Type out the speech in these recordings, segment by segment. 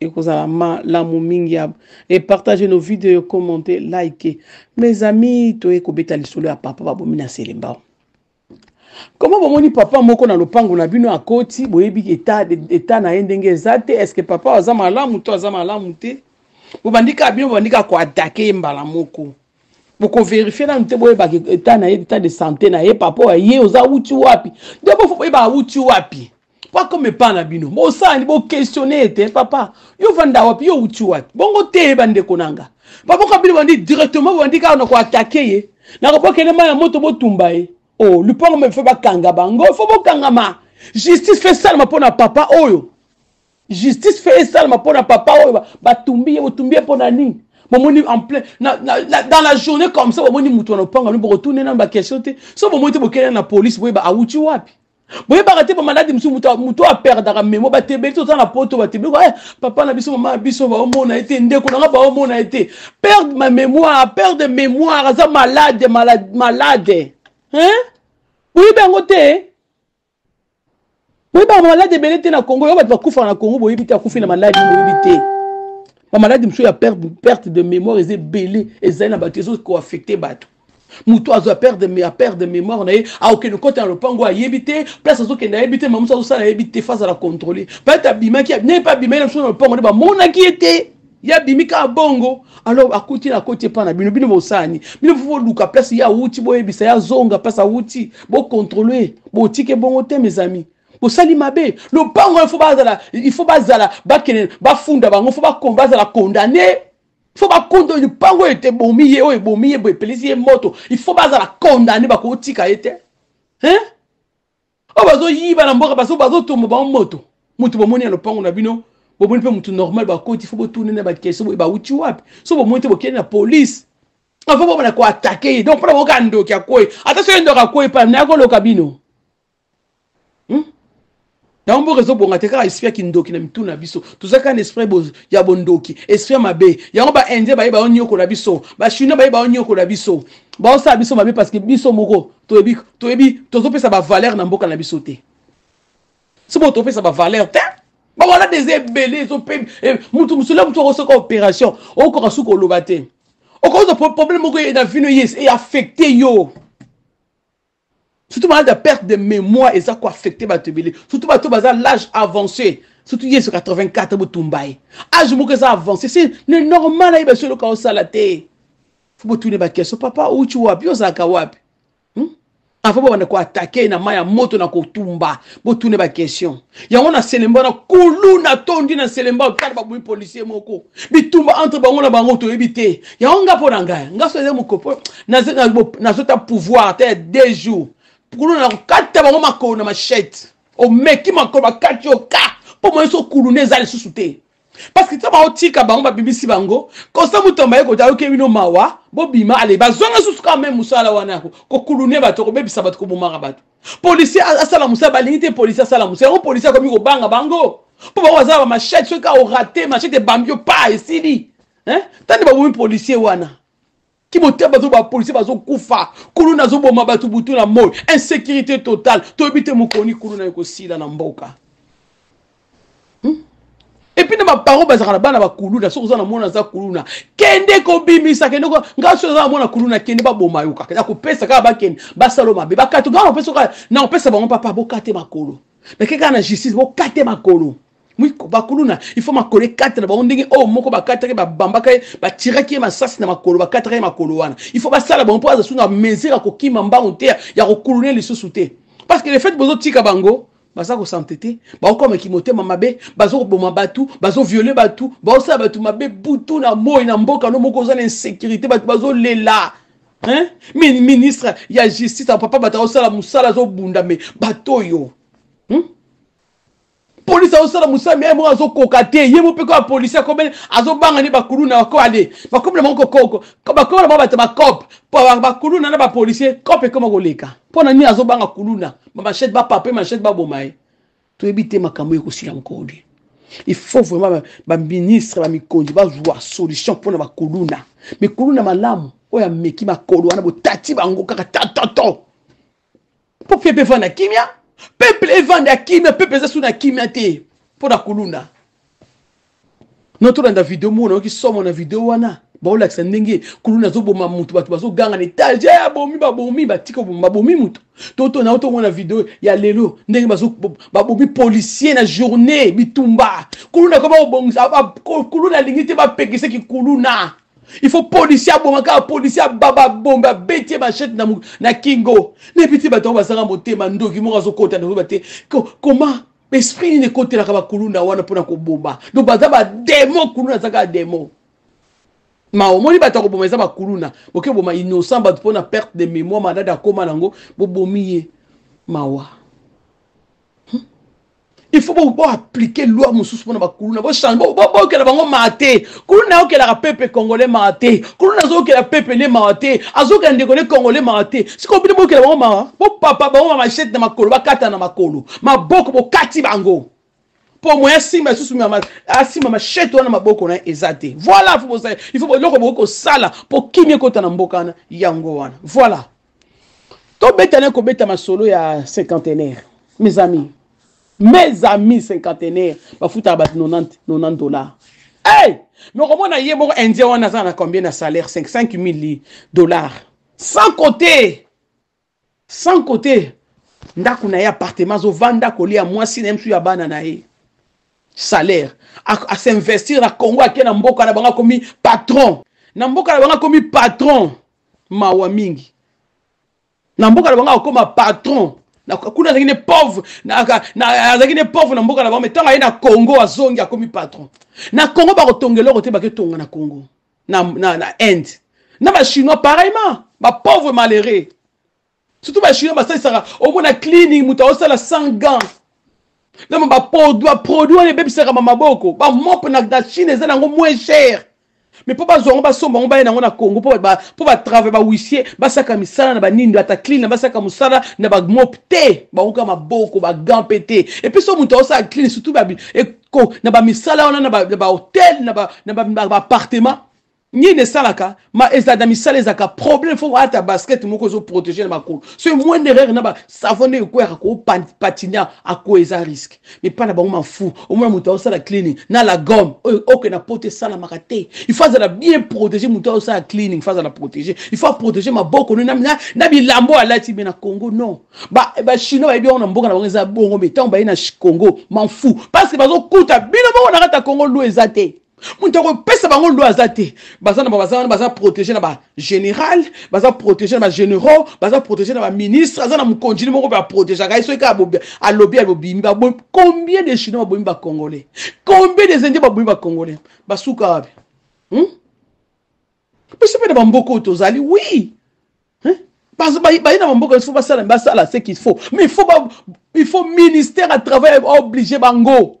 ekozala malamu mingi ya epartage nos videos commente like mes amis toye kobeta lisolo ya papa babomi na selembao koma bomoni papa moko na lopango na bino akoti boyebi eta na ye ndenge eza te estce papa aza malamu to aza malamu te bobandi kaka bino bobandi kaka koatake ye mbala moko bokoverifie nanu te boyebaka eta na ye eta de sante na ye papa oyo ye oza awuti wapi nde boyeba awuti wapi bakoma epa na bino bosani boquestione ete papa yo vanda wapi yo outi wapi bongo te bandeko na nga baboka bino bandi directement bobandi kaka na koatake ye na kopokende mai ya moto botumba ye o oh, lupango mpe bakanga bango fo bokangama justice fe esalama mpo na papa oyo justice fe esalama mpo na papa oyo batumbi ye botumbi ye mpo na nini bomoni en plein na, na, na, dans la journée comme ça bomoni moto wana opanga no bokotune nano baquestion te so bomoni te bokende na police boyeba awuti wapi boyebaka te bamaladi mosusu moto oyo aperdaka memo batebeli toza na poto batebeli eh, papa na biso mama na biso baomona ye te ndeko nanga baomona ye te perde ma mémoire perde mémoire aza malade malade, malade. Hein? boyebi yango te boyebi bamaladi ebele te na congo yo bato bakufaka na congo boyebi te akufi na maladi boyebi te bamaladi mosusu ya perte de mémoire eza ebele ezali na bato ezokoaffecte bato moto azo aperde aperde mémoire na ye aokende kota na lopango ayebi te place azokende ayebi te mamusu azosala ayebi te fa azala contrôle peut-être abimaki ne pa abimaki na biso na lopango nde bamonaki ye te ye abimi kaka bongo alors akuti na koti epai na bino bino bosalani bino fo boluka place ye awuti boyebisa ye azonga place awuti bocontrole botike bongo te mes amis bosali mabe lopango il faut bazala il faut bazala bakende bafunda bango fo bazala condamne fo bakundo lipango oyo ete ebomi ye oyo ebomi ye epelisi ye moto ifo bazala kondane bakotika ye te hein? oyo bazoyiba na mboka bazotombo bango moto moto bomoni ya lopango na bino bomoni mpe moto normal bakoti fo botuni na bakese boye bauti wapi so bomoni te bokende na polise avant bomona koatake ye donc mpona boyoka ndoki akwei ata soki ndoki akwei pana nayakoloka bino hmm? yango mboka ezobonga te kaka esprit ya kindoki na mitu na biso toza kaka na esprit ya bondoki esprit ya mabe yango baindien baye baonyokola biso bachinois baye baonyokola biso baosala biso mabe parce que biso moko toyebi toyebi tozopesa bavaleur na mboka na biso te si bo topesa bavaleur te bawana des ebele ezope eh, motu mosula motu akosoka opération okoka suka oloba te okoza problème moko na vino yes e affecte yo surtout malade ya perte de mémoire eza koaffecte bato ebele surtout bato baza l'âge avancé surtout yesu 84 botumba ye age moko eza avancé se ne normal ayeba so eloka osala te fo botune bakestion papa outi wapi ozalaka wapi hmm? avant babanda koatake na mai ya moto na kotumba botune baquestion yango na selemba na kulu natondi na selemba otala babomi policier moko bitumba entre bango na bango toyebi te yango nga mpo na ngai nga so eza mokopo nazota pouvoir ata ya deux jours kulu na kokata bango makolo na machete omeki makolo bakati oka mpo moyeso kuluna eza lisusu te parce que ntango baotika bango babimisi bango constant mutomba ye kota ayoki bino mawa bobima ale bazonga susu kaka meme mosala wana yako kokulune bato kobebisa bato kobomaka bato policier asala mosala balingi te policier asala mosala yango policier akomi kobanga bango mpo bango bazala bamachete soki kaka orate machete ebambi yo pa esili tande babomi policier wana kibotia bazo ba policier bazo kufa kulu nazo boma bato butu na moi insécurité totale toyebi te mokoni kulu na ekosila na mboka hmm? epuis na baparo bazalaka na bana bakuluna soki oza na mwana aza kuluna kende kobimisa kende ngai soki oza na mwana kuluna kende baboma yo kaka nakopesa kaka bakende basalo mabe bakati ngai nakopesa bango papa bokate makolo nake kaka na justice bokate makolo mwiko bakuluna ifo makolo ekata na bango ndenge oyo moko bakataki babambaka ye batiraki ye masasi na makolo bakataka ye makolo wana ifo basala bango mpo aza su na mesure ya kokima mbangu te ya kokuluna lisusu te parce que le fait bozotika bango baza kosante te baokoma kimotema mabe bazokoboma bato bazoviole bato baosala bato mabe butu na moi na mboka no moko oza na insécurité bato bazolela hein? ministre ya justice ya papa bato akosala mosala azobunda me bato oyo hmm? polisi azosala mosala me ye moko azokoka te ye moko mpe koya polisi akomeli azobanga nde bakuluna bakoale bakomi na bango kokoko bakomi na bango bato bacope bakuluna na bapolisie cope ekoma koleka mpo na nini azobanga kuluna bamachete bapape machete baboma ye toyebi te makambo oyo ekosila mokolo nde il faut vraiment baministre bamikonzi bazwa solution mpo na bakuluna mikuluna malamu oyo ameki makolo wana botati bango kaka tatoto mpo peuple evanda kimia peuple evanda kimia peuple eza su na kimia te mpo na kuluna no tolanda video moko nayoki somo na video wana baolakisa ndenge kuluna azoboma motu bato bazoganga na etage eh, abomi babomi batika oboma babomi motu toto nao tomona video ya lelo ndenge babomi policier na journée bitumba kuluna koma obongisa kuluna alingi te bapekisaki kuluna il faut policier aboma kaka policier ababa bombe abeti ye machete na, na kingo nayebi te bato yango bazanga motema ndoki moko azokota nakoyeba te koma esprit nini ekotelaka bakuluna wana mpona koboma donc baza bademo kuluna aza kaka demo ma omoni bato ya koboma eza bakuluna boke boma innocent bato mpona perte de mémoire madada akoma nango bobomi ye mawa il faut bo appliquer loi mosusu mpona bakuluna bochange bokela bango maa te kuluna ayokelaka pepe congolais maa te kuluna azokela pepe ne mawa te azokela ndeko ne congolais mawa te sikoyo bino bokela bango mawa bopapa bango ma machete na makolo bakata na makolo maboko bokati bango mpo moya asimba lisusu asimba machete wana maboko na eza te voilà il faut eloko bokoki kosala mpo kimia ekota na mboka wana yango wana voilà tobeta na kobeta masolo ya cinquantenaire mes amis mes amis cinquantenaire bafutaka bato 90 90 dollars hey! mokomona ye moko indien wana aza na combien na salaire 5 000 dollars sans côté sans côté ndako na ye appartement azovanda kolia mwasi na ye mosusu ya bana na ye salaire asinvestir na congo ake na mboka na bango akomi patron na mboka na bango akomi patron mawa mingi na mboka na bango akokoma patron kuna azalaki ne pauvre azalaki ne pauvre na mboka na bango me ntango aye na congo azongi akomi patron na congo bakotonga eloko te baketonga na congo na, na, na inde na bachinois pareillement bapauvre malheureux surtout ba chinois basalisaka omona cleaning moto aosala sans gant na baproduit wana ebebisaka bamaboko bamope na chine eza nango moins cher mais mpo bazwa yango basomba yango baye nango na congo mpo batravail bahuissier basaka misala na banindo ata clean na basaka mosala na bamope te bakoka maboko bagant mpe te epuis so moto aosala clean surtout na bamisala wana na bahotel na baappartement nini esalaka ma ezala na misala ezalaka problème fo ata basket moko ezo protege na makolo so moindre erreur na ba savon nde ekweyaka kopatina ako eza risque mipa na bango mafu omona moto aosala cleaning na la gomme oyo oke na poto esalamaka te il faut azala bien protege moto aosala cleaning faut azala protege il faut aprotege maboko no na, na bilambo alati me na congo non bachinois bayebi yango na mboka na bango eza bongo me ntango baye na congo mafu parce que bazokuta bino bongo na kati ya congo lu eza te moto akopesa bango loi aza te baza na baza wana baza protege na bagénéral baza protege na bagénéraux baza protege na baministre aza na mokonjini moko mpe aprotegeaka ye soki alobi alobimi babomi combien de chinois babomi bacongolais combien des indiens babomi bacongolais basuka wapi hmm? biso mpe na bamboka oyo tozali wi baye na bamboka il faut basala basala ce qu'il faut mais il faut, ba, il faut ministère à travail oblige bango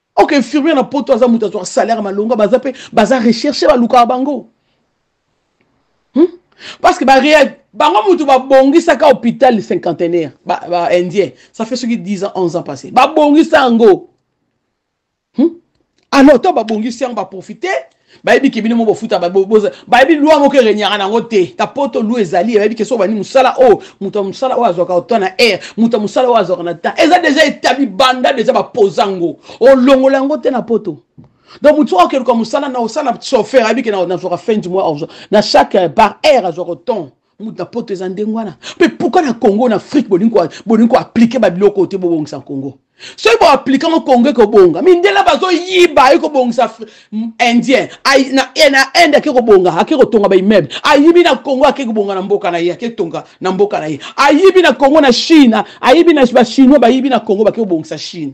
ok infirmier na poto aza moto azwaka salaire malonga baza mpe baza recherche balukaka bango hmm? parce que bareal bango moto babongisaka hôpital cinquantenaire baindien ba ça fait soki 10 ans 11 ans passé babongisa yango hmm? alors ntango babongisi yango baprofite bayebi ke bino mo bofuta bayebi lwa moko erenyaka nango te ta poto lwa ezali bayebi ke soki bandi mosala oyo oh, moto ya mosala oyo azwaka ota na aire moto ya mosala oyo azwaka na temps eza deja etabi banda deja bapoza yango olongola yango te na poto donc moto soki akeluka mosala na osala chauffeur ayebi ke nazwaka fin du mois na chaque euh, par aire azwaka temps mutu na poto eza ndenge wana mpe pourkui na congo na afrique bolingi koaplike babiloko te bobongisa congo soki boaplike yango congo ekobonga mindela bazoyiba ayi kobongisa indien na inde ake kobonga ake kotonga baimmeuble ayibi na congo ake kobonga na mboka na ye ake tonga na mboka na ye ayibi na congo na chine ayibi na bachinois bayibi na congo bake kobongisa chine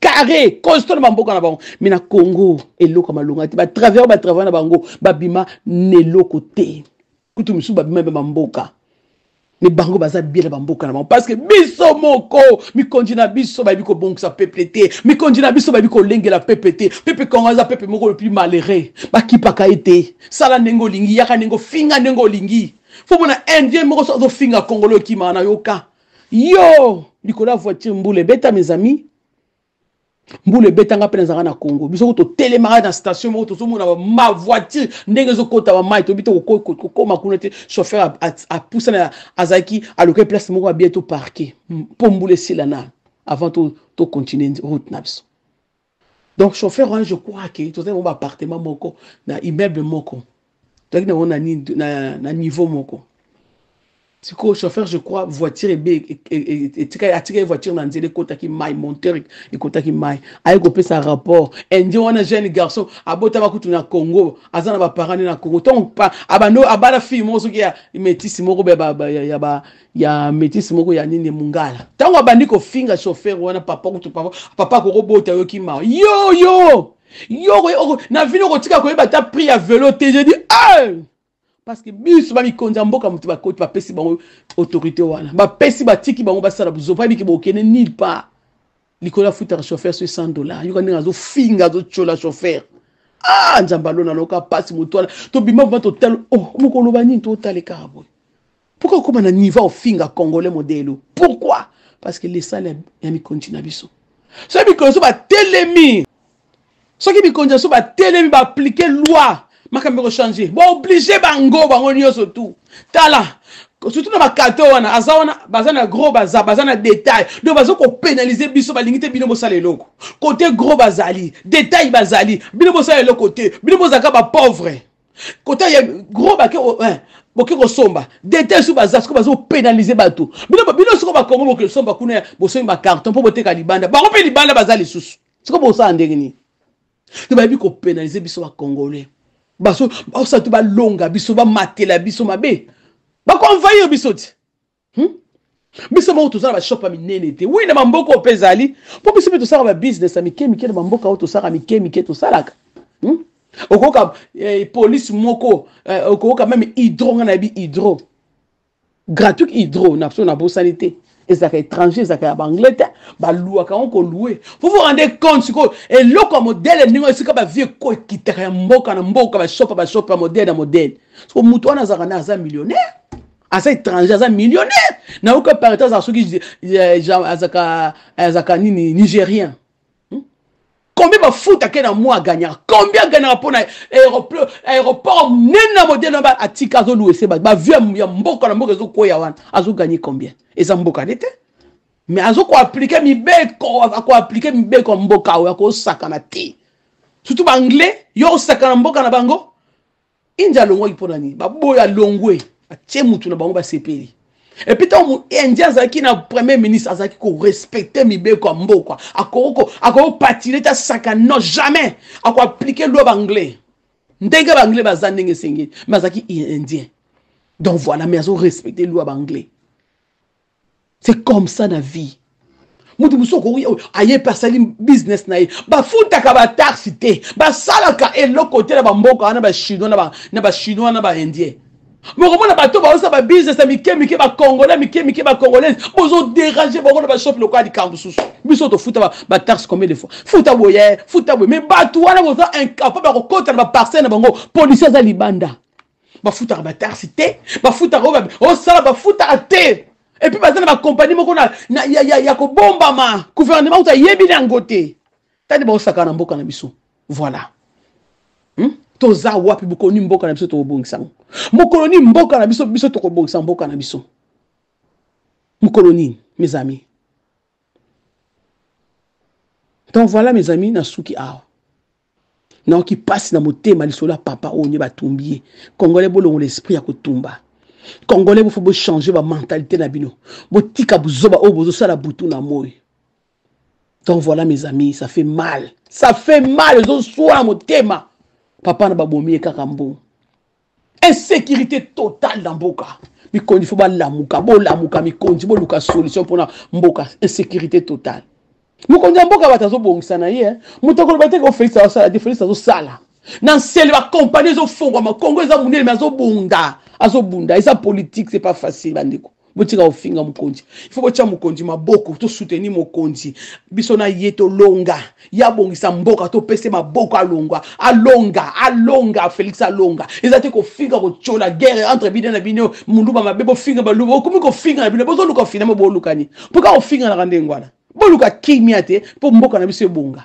carré constant na bamboka na bango mais na congo eloko ya malonga te batravers batravers na bango babima na eloko te kutu mosusu babima mpe bamboka me bango baza bie na bamboka na bango parceke biso moko mikonzi na biso bayebi kobongisa peple te mikonzi na biso bayebi kolengela peple te pepe kongo aza pepe moko le plus malheureux bakipaka ye te sala ndenge olingi yaka ndenge ofinga ndenge olingi fo mona indien moko so azofinga kongolo ekimaka na yoka yo likolo ya voiture mbula ebeta mes amis mbula ebeta nga mpe nazalaka na congo biso ko totelemaka na station moko tozomona ma voiture ndenge ezokota bamai toyebi te kokoma kuna te chauffeur apusana azalaki alokai place moko abie to parke mpo mbula esila nano avant tocontinue route na biso Donc chauffeur wana je crois que tozali nango ba appartement moko na immeuble moko tozalaki nango na, na, na niveau moko sikoyo chauffeur je crois voiture ebe e, e, e, etikali atikali voiture na nzela ekotaki mai monteur ekotaki mai aye kopesa rapport indien wana jeune garçon abotama kutu na congo aza na baparent nde na congo ntongo abando abala fille moko soki ya metisi moko ya ya metisse moko ya nini mungala ntango abandi kofinga chauffeur wana papa kutu papa papa akokobota yo kimawa yo yo yo na vini okotika koyeba ata prix ya velo te je dis hey! parce que biso bamikonzi ya mboka motu bakoti bapesi bango autorité wana bapesi batiki bango basala buzoba yebiki bokende nil part likolo afutaka chauffeur soki 100 dollar yoka ndenge azofinga azotyola chauffeur ah nzambe alona loka mpasi motu wana tobima vrima totala oh mokoloba nini totalekaka boye Pourquoi okoma na niveau ofinga congolais modelo? Pourquoi? Parce que lisala ya mikonji na biso. Soki mikolo so batelemi, soki mikonji na so batelemi ba appliquer loi, makambo ko changer. Ba obliger bango bango nyoso tout. Tala, surtout na bakato wana aza wana baza na gros baza baza na detail donc baza kopénaliser biso balingi te bino bosala eloko kote gros bazali detail bazali bino bosala eloko te bino bozalaka bapauvre kota ya gros bake eh, boke kosomba detail so baza siko bazopénalise bato bino bino siko bakongo bokesomba kuna bosombi bacarton mpo boteka libanda bango mpe libanda baza lisusu siko bosala ndenge nini to bayebi kopénalise biso bacongolais baso baosa to balonga biso bamatela biso mabe bakoenvahir biso ti hmm? biso moko tozala bashop ya minene te wi na bamboka oyo mpe ezali mpo biso mpe tosalaka babusiness ya mike mike na bamboka oyo tosalaka mike mike tosalaka hmm? okoyoka eh, polise moko eh, okoyoka meme hydro ngai nayebi hydro gratuit hydro na biso nabosani te ezalaka étranger ezalaka ya baanglais te baluaka yango kolue fo vous rende compte sikoyo eloko ya modele ndenge esika bavie ko ekitaka ya mboka na mboka bashopa bashopa modele na modele siko moto wana azalaka na aza millionnaire aza étranger aza millionnaire nayoki aparete azala soki azaka azaka nini nigérien hmm? combien bafuta ke na moi agagnaka combien agagnaka mpo na aéroport monene na modele na atika azoluese bato bavio ya mboka na mboka ezokweya wana azogagne combien eza mboka nde te mais azokoaplike mibeko akoaplike mibeko ya mboka oyo akosakana te surtout baanglais yo osakana mboka na bango india alongwaki mpo na nini baboyo alongwe atie motu na bango basepeli epuis ntango indien azalaki na premier ministre azalaki korespecte mibeko ya mboka akokopatile te asaka non jamais akoaplike lwa baanglais ndenge baanglais baza ndenge esengeli mais azalaki indien donc voilà mais azorespecte lwa baanglais c'est comme ça na vie moto mosusu okoki oyo aye mpe asali business na ye bafutaka bataxe te basalaka eloko te na bamboka wana bachinois na bachinois na baindien bokomona bato baosa babusiness ya mike mike bacongolais mike mike bacongolaise bozoderange bango na bashopi lokola likambo mosusu biso tofuta bataxe combien de fois futa boye futa boye mais bato wana boza incapable ya kokota na baparcelle na bango policier aza libanda bafutaka bataxe te bafutaka oyo osala bafutaka te epuis baza na bakompani moko na, na, ya, ya, ya kobombama guvernema kutu ayebi na yango te tani baosaka na mboka na biso voilà hmm? toza wapi bokoni mboka na biso tokobongisa yango mokolo nini mboka na biso biso tokobongisa mboka na biso mokolo nini mes amis donc voilà mes amis nasuki awa nayoki mpasi na motema lisolo ya papa oyo nde batumbi ye congolais bolongola esprit ya kotumba congolais bofo bochange bamentalité na bino botika buzoba oyo bozosala butu na moi donc voilà mes amis ça fait mal ça fait mal ezoswa na motema papa na babomi ye kaka mbongo insécurité totale na mboka mikonzi fo balamuka bolamuka mikonzi boluka solution mpona mboka insécurité totale mokonzi ya mboka bato azobongisa na ye eh. moto akoloba te ko félix azosala te félix azosala na nsele bakompani ezofongwama kongo eza monene me azobunda azobunda eza politique c'est pas facile bandeko botika kofinga mokonzi ifo botya mokonzi maboko tosuteni mokonzi biso na ye tolonga ye abongisa mboka topese maboko alongwa alonga alonga félix alonga eza te kofinga kotyola guerre entre bino na bino moluba mabe bofinga baluba okomi kofinga na bino bozoluka ofinama bolukani mpo ka kofinganaka ndenge wana boluka kimia te mpo mboka na biso ebonga